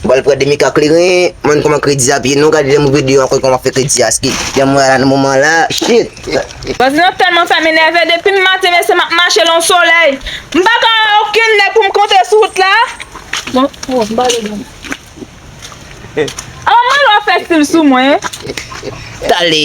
Bal prè demi ka kleren Mwen kòman kredi ap ye non gade lèm rive deyò ankò kòman fè kredi a ske janm wè a la nan moman la shiit. Bandi nan tèlman fèm enève depim maten mesye map mache lan solèy m paka wè okenn nèg poum kontre sou wout la Aman wap fè stil sou mwen. Tale.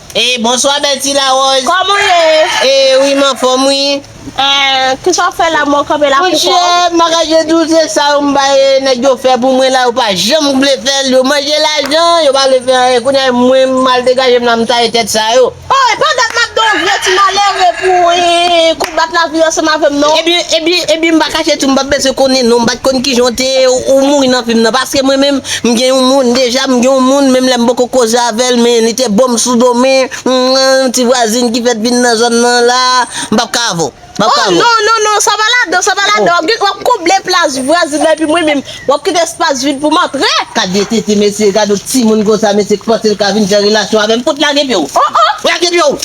Ee bonswa bèl ti larose. Kòman w ye? Ee wi m anfòm wi. Ee ki sa w fè la menm w kanpe la pou kò w? Monchè m pa ka jwe tou se sa yo m bay nèg yo fè pou mwen la yo pa janm vle fè l yo manje lajan yo pa vle fè anyen kounye a mwen m al degaje m la m taye tèt sa yo. Oh epa dat map gen yon vye ti malere pou kou bat lavi ansanm avèm non. Ebyen ebyen ebyen m pa kache tou m pa bezwen konnen non m pat konn kijan w te ye ou mouri nan fim nan paske mwen menm M gen yon moun deja m gen yon moun menm lè m poko koze avèl men li te bom sou do men yon ti vwazin ki fèt vin nan zòn nan la m pap ka avèw m pap ka avèw. Oh non non non sa pa ladan sa pa ladan wap gen wap konble plas vwazin nan epi mwen menm wap kite espas vid poum antre. Gad vye tete mesye gad yon timoun konsa mesye ki panse l ka vin fè relasyon avèm fout lage pyew oh oh lage pyew.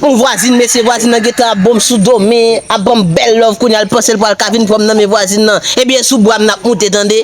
Bon vwazin mesye vwazin nan gentan ap bonm sou dom me ap banm bèl love kounya l pansel pwal ka vin pranm nan men vwazin nan ebyen sou bwam nap moute tande.